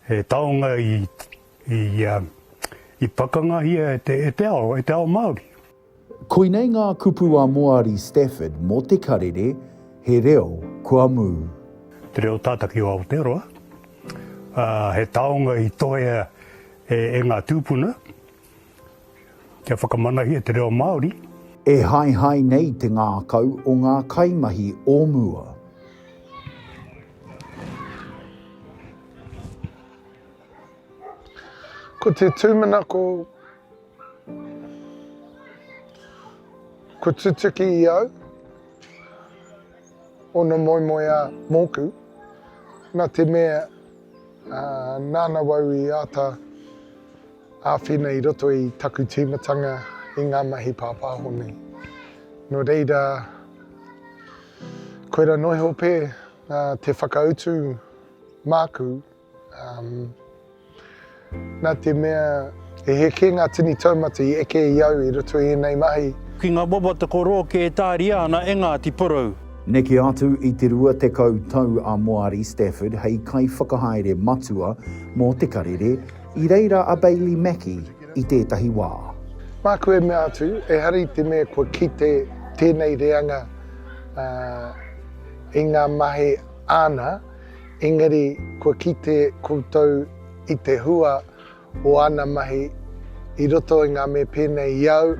He taonga i pakangahia e te ao, e te ao Māori. Koinei ngā kupu a Moari Stafford mō te karere He Reo kua Mū. Te reo tātaki o Aotearoa. He taonga i tohea e ngā tūpuna. Kia whakamanahia te reo Māori. E haehae nei te ngākau o ngā kaimahi o mua. Ko te tūmanako kua tutuki i au ōna moemoeā mōku, nā te mea nāna wau i āta. Āwhina i roto i taku tīmatanga i ngā mahi pāpāho nei. Nō reira, koira noa iho pē te whakautu māku, nā te mea he heke ngā tini taumata i eke i au i roto i ēnei mahi. Ki ngā wawa te korō kē e tāria ana e Ngāti Porou. Neke atu i te rua tekau tau a Moari Stafford hei kaiwhakahaere matua mō te karere, I reira a Bailey Mackie i tētahi wā. Māku e mea atu, ehara i te mea kua kite tēnei reanga i ngā mahi āna, engari kua kite koutou i te hua o āna mahi i roto i ngā mea pēnei i au,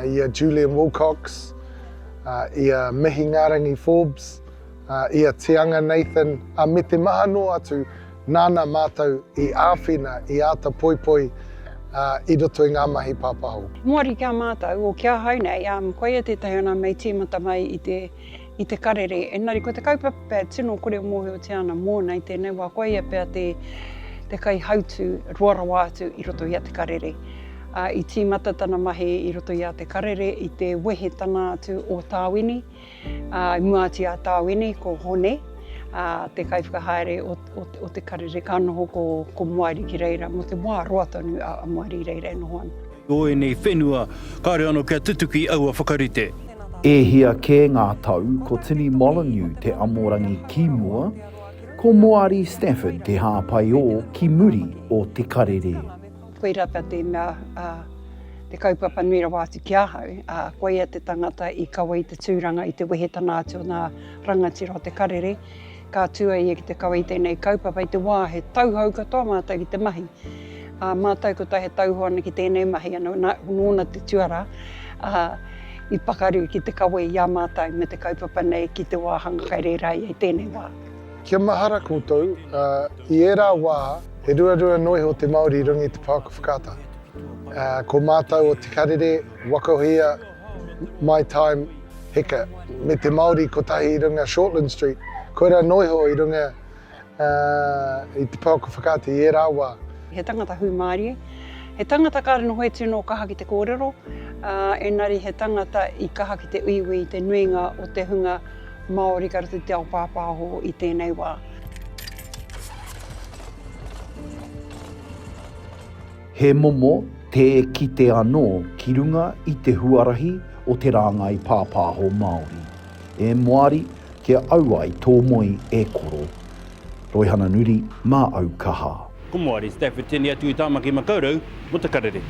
i a Julian Wilcox, i a Mihingarangi Forbes, i a Te Anga Nathan, ā, me te maha noa atu Nāna mātou i āwhina, i āta poipoi i roto i ngā mahi pāpaho. Moari ki a mātou, o ki ahau nei, ā, koia tētahi o nā mei tīmata mai i te, i te Karere. Engari ko te kaupapa pea tino kore e mōhiotia ana mōna i tēnei wā, koia pea te, te kaihautū roa rawa atu i roto i a te Karere. Ā, i tīmata tana mahi i roto i a te Karere i te wehe tana atu o Tāwini, Ā, i mua atu i a Tāwini, ko Hone, ā, te kaiwhakahaere o, o, o te karere, ka noho ko, ko Moari ki reira, mō te wā roa tonu a, a Moari i reira e noho ana. O ēnei whenua, kāore ano kia tutuki aua whakarite. E hia kē ngā tau, ko Tini Molyneux te amorangi ki mua, ko Moari Stafford te hāpaiō ki muri o te karere. Koira ta te mea, a, te kaupapa nui rawa atu ki ahau, a, koia te tangata i kawe i te tūranga, i te wehetana atu o nga rangatira o te karere, ka tu a ia ki te kawe i tenei kaupapa i te wa he tauhou katoa matou ki te mahi. A, matou kotahi e tauhou ana ki tenei mahi, ano na, nona te tuara, a, i pakaru ki te kawe i a matou me te kaupapa nei ki te wahanga kai rera ia i tenei wa. Kia mahara koutou, ā, i ērā wā, he ruarua noa iho te Māori i runga i te pouaka whakaata. Ā, ko mātou o Te Karere, Wakohia, My Time, Heka, me te Māori kotahi i runga Shortland Street, koirā noa iho i runga, ā, i te pouaka whakaata i ērā wā. He tangata hūmārie, he tangata kāre noho e tino kaha ki te kōrero, ā, engari he tangata i kaha ki te uiui i te nuinga o te hunga, Māori ka rite te ao pāpāho i tēnei wā. He momo tē kite anō ki runga i te huarahi o te rāngai pāpāho Māori. E Moari, kia auai tō moe e koro. Roihana Nuri, Mā au kaha. Ko Moari Stafford tēnei atu i Tāmaki Makaurau mō te karere.